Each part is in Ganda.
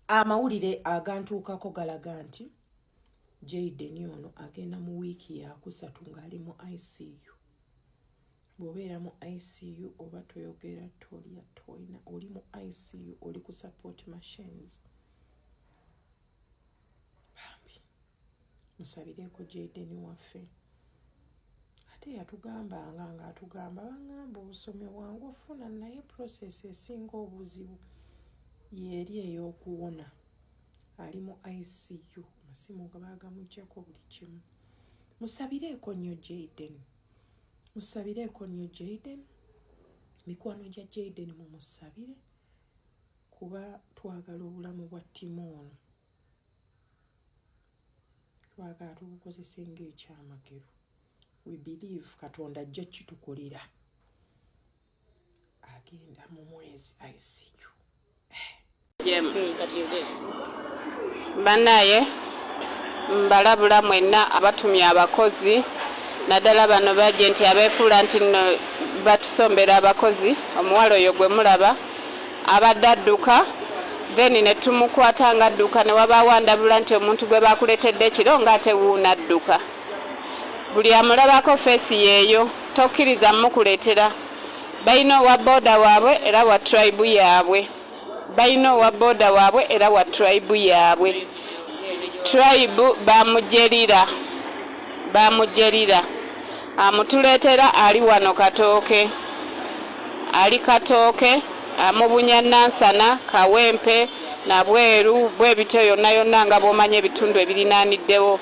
amawulire agantuukako galaga nti jaden ono agenda mu wiiki yakusatu ng'ali mu icu bwobeera mu icu oba toyogera tolya toyina oli mu icu oli ku support machines bambi musabireeko jaideni waffe ate yatugambanga nga atugamba bangamba obusomi bwangu ofuna naye process esinga obuzibu yeeri eyokuwona ali mu icu amasimu gabagamugyako buli kimu musabireeko nnyo jaideni musabireeko nnyo jaden mikwano gya jaden mumusabire kuba twagala obulamu bwa ttimu ono twagala tubukozese ngaekyamagero we believe katonda ajja kitukolera agenda mu mwezi ayisiyo banaye mbalabula mwenna abatumya abakozi naddala bano bajenti abeefuula nti no batusombera abakozi omuwala oyo gwe mulaba abadde adduka then ne tumukwata ng'adduka ne wabaawo andabula nti omuntu gwe baakuleetedde ekiro ng'ate wuuna adduka buli amulabako feesi yeeyo tokkiriza mukuletera balina owa booda waabwe era wa tribe yaabwe balina owa booda waabwe era wa tribe yaabwe tribe bamujerira bamujerira amutuleetera ali wano katooke ali katooke amubunya nansana kawempe nabweru bwebityo yonna yonna nga bwomanya ebitundu ebirinaaniddewo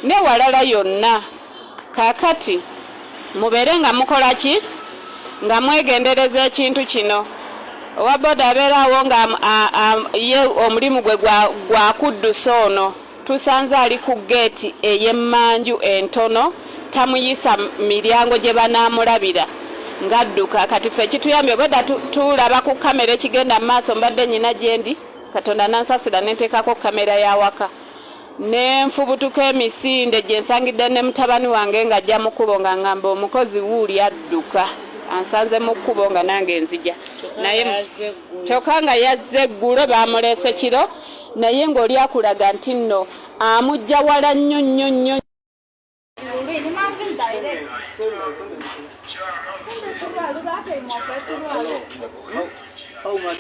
ne walala yonna. Kaakati, mubeere nga mukola ki? Nga mwegendereza ekintu kino. Owa boda abeera awo nga ye omulimu gwe gwa kuddusa ono, tusanze ali ku geeti ey'emmanju entono, tamuyisa miryango gye banaamulabira ng'adduka. Kati ffe ekituyambye, obwedda tulaba ku kkamera ekigenda mu maaso, mbadde nnyina gye ndi, Katonda n'ansasira ne nteekako kkamera y'awaka. ne nfubutuka emisinde gye nsangidde ne mutabani wange ng'ajja mu kkubo nga ngamba omukozi wuuli adduka ansanze mu kkubo nga nange nzija naye kyokka nga yazze eggulo baamuleese kiro naye ng'oli akulaga nti nno amujja wala nnyo nnyo nnyo Oh, my.